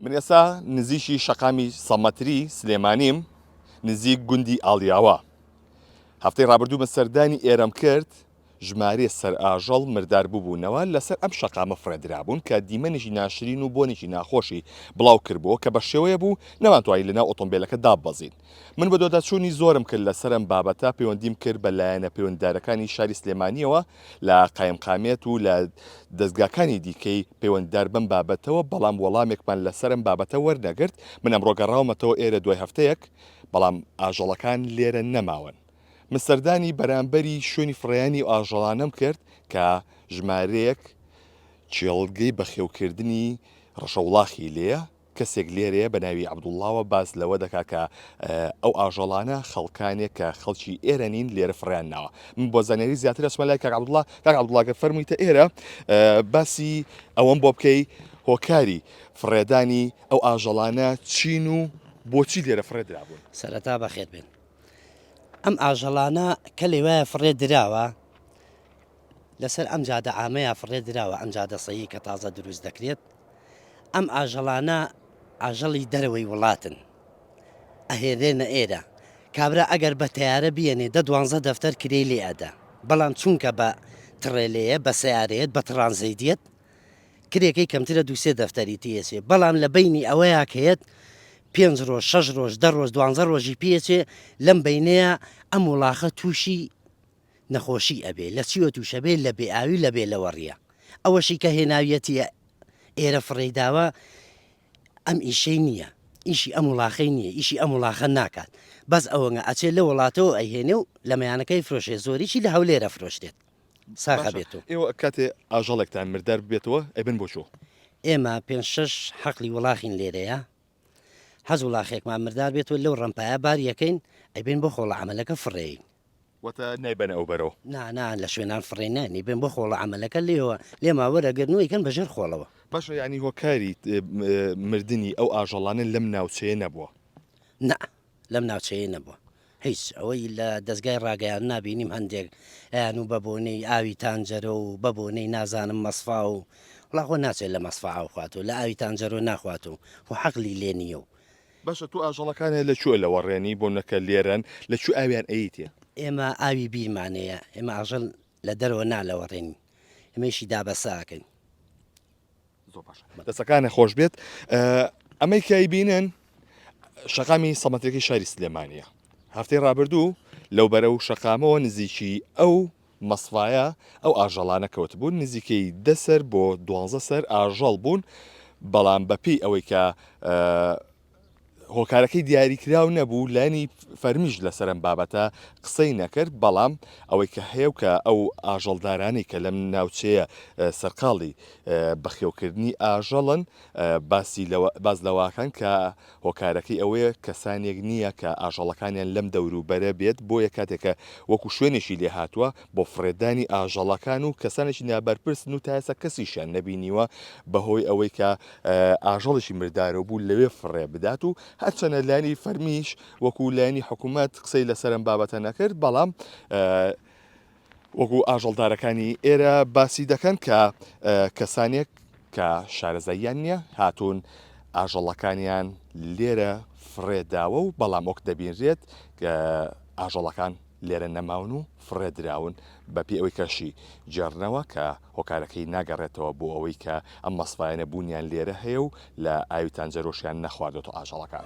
من ئێستا نزیکی شەقامی سەمەتری سلێمانیم نزیک گوندی ئاڵیاوە هەفتەی ڕابردوو من سەردانی ئێرەم کرد ژمارێ سەر ئاژەڵ مردار ببوونەوە لەسەر ئەم شەقامە فڕێدرابوون کە دیمەنێکی ناشرین و بۆنێکی ناخۆشی بڵاو کردبووە کە بە شێوەیە بوو نەمانتوانی لەناو ئۆتۆمبیلەکە داببەزین من بەدواداچوونی زۆرم کرد لەسەر ئەم بابەتە، پەیوەندیم کرد بە لایەنە پەیوەنددارەکانی شاری سلێمانییەوە لە قایمقامیەت و لە دەزگاکانی دیکەی پەیوەنددار بەم بابەتەوە، بەڵام وەڵامێکمان لەسەر ئەم بابەتە وەرنەگرت، من ئەمڕۆ گەڕاومەتەوە ئێرە دوای هەفتەیەک، بەڵام ئاژەڵەکان لێرە نەماون، من سەردانی بەرامبەری شوێنی فڕێیانی ئەو ئاژەڵانەم کرد کە ژمارەیەک کێڵگەی بەخێوکردنی ڕەشەوڵاخی لێیە، کەسێک لێرەیە بە ناوی عەبدوڵڵاوە باس لەوە دەکا کە ئەو ئاژەڵانە خەڵکانێک کە خەڵکی ئێرە نین لێرە فڕێیان ناوە من بۆ زانیاری زیاتر ئەچمە لای کاک عەبدوڵڵا کاک عەبدوڵڵا گەر فەرموویتە ئێرە باسی ئەوەم بۆ بکەی هۆکاری فڕێدانی ئەو ئاژەڵانە چین و بۆچی لێرە فڕێ درابوون سەرەتا بەخێت بێن ئەم ئاژەڵانە کە لەوایە فڕێ دراوە لەسەر ئەم جادە عامەیە فڕێ دراوە ئەم جادە سەیەی کە تازە دروست دەکرێت ئەم ئاژەڵانە ئاژەڵی دەرەوەی وڵاتن ئەهێرێنە ئێرە کابرا ئەگەر بە تیارە بیێنێ دە دوانزە دەفتەر کرێ لێ ئەدا بەڵام چونکە بە تڕێلەیە بە سیارەیەت بە تڕانزەیدیت کرێەکەی کەمترە دوسێ دەفتەری تێچێ بەڵام لە بینی ئەوەیە کەێت پێنج ڕۆژ شەش ڕۆژ دە ڕۆژ دوانزە ڕۆژی پێچێ لەم بینەیە ئەم وڵاخە تووشی نەخۆشی ئەبێ لە چیوە توشە بێ لە بێ ئاوی و لە بێ لەوەڕیە ئەوەشی کە هێناویەتیە ئێرە فڕێی داوە ئەم ئیشەی نییە ئیشی ئەم وڵاخەی نییە ئیشی ئەم وڵاخە ناکات بەس ئەوەنگە ئەچێ لە وڵاتەوە ئەیهێنێ و لە مەیانەکەی فرۆشێ زۆریی لە هەولێرە فرۆشتێت ساغە بێت و ئێوە کاتێ ئاژەڵێکتان مردار ببێتەوە ئەبن بۆ چۆ؟ ئێمە پێنج شەش حەقلی وڵاخین لێرەیە حەزوڵاخێکمان مردار بێت و لەو ڕەمپایە بار یەکەین ئەیبەین بۆ خۆڵە عەمەلەکە فڕێین. واتە نایبەنە ئەو بەرەوە؟ نا نا لە شوێنان فڕێین ناین ئەیبەین بۆ خۆڵە عەمەلەکە لێیەوە لێمان وەرەگرن و ئەیکەن بە ژێر خۆڵەوە. باشە یانی هۆکاری مردنی ئەو ئاژەڵانە لەم ناوچەیە نەبووە؟ نا لەم ناوچەیە نەبووە هیچ ئەوەی لە دەستگای ڕاگەیان نبینیم هەندێک ئەیان و بە بۆنەی ئاوی تانجەرۆ و بە بۆنەی نازانم مەسفا و وڵاخۆ ناچێت لە مەسفا ئاوخوات و لە ئاوی تانجەرۆ ناخوات و خۆ حەقلی لێ نییە و. باشە تۆ ئاژەڵەکانت لە کوێ لەوەڕێنی بۆنەکە لێرەن لە کوێ ئاویان ئەیتێ؟ ئێمە ئاوی بیرمانەیە ئێمە ئاژەل لە دەرەوە نا لەوەڕێنی ئێمەیشی دابەسە ئەکەین. زۆر باش دەسەکانە خۆش بێت ئەمەی کای بینن شەقامی سەمەتەکەی شاری سلێمانە هەفتەی ڕابردوو لەو بەرە و شەقامەوە نزیکی ئەو مەسفاایە ئەو ئاژەڵانە کەوت بوون نزیکەی دەسەر بۆ دوانزە سەر ئاژەڵ بوون بەڵام بەپی ئەوەی کە هۆکارەکەی دیاریکراو نەبوو لانی فەرمیش لەسەر ئەم بابەتە قسەی نەکرد بەڵام ئەوەی کە هەیە و کە ئەو ئاژەڵدارانی کە لەم ناوچەیە سەرقاڵی بەخێوکردنی ئاژەڵن باسی باز لەواکان کە هۆکارەکەی ئەوەیە کەسانێک نییە کە ئاژەڵەکانیان لەم دەوروبەرە بێت بۆیە کاتێکە وەکو شوێنێکی لێ هاتووە بۆ فڕێدانی ئاژەڵەکان و کەسانێکی نابەرپرسن و تاسە کەسیشیان نەبینیوە بەهۆی ئەوەی کە ئاژەڵێکی مردارەو بوو لەوێ فڕێ بدات و هەرچەنە لایەنی فەرمیش وەکو لایەنی حکوومەت قسەی لەسەرم بابەتە نەکرد بەڵام وەکو ئاژەڵدارەکانی ئێرە باسی دەکەن کە کەسانێک کە شارەزاییان نییە هاتوون ئاژەڵەکانیان لێرە فڕێداوە و بەڵام وەک دەبینرێت ئاژەڵەکان لێرە نەماون و فڕێ دراون، بە پێی ئەوەی کە شی گێڕنەوە کە هۆکارەکەی ناگەڕێتەوە بۆ ئەوەی کە ئەم مەسڤایانە بوونیان لێرە هەیە و لە ئاوی تانجەرۆشیان نەخواردۆتەوە ئاژەڵەکان.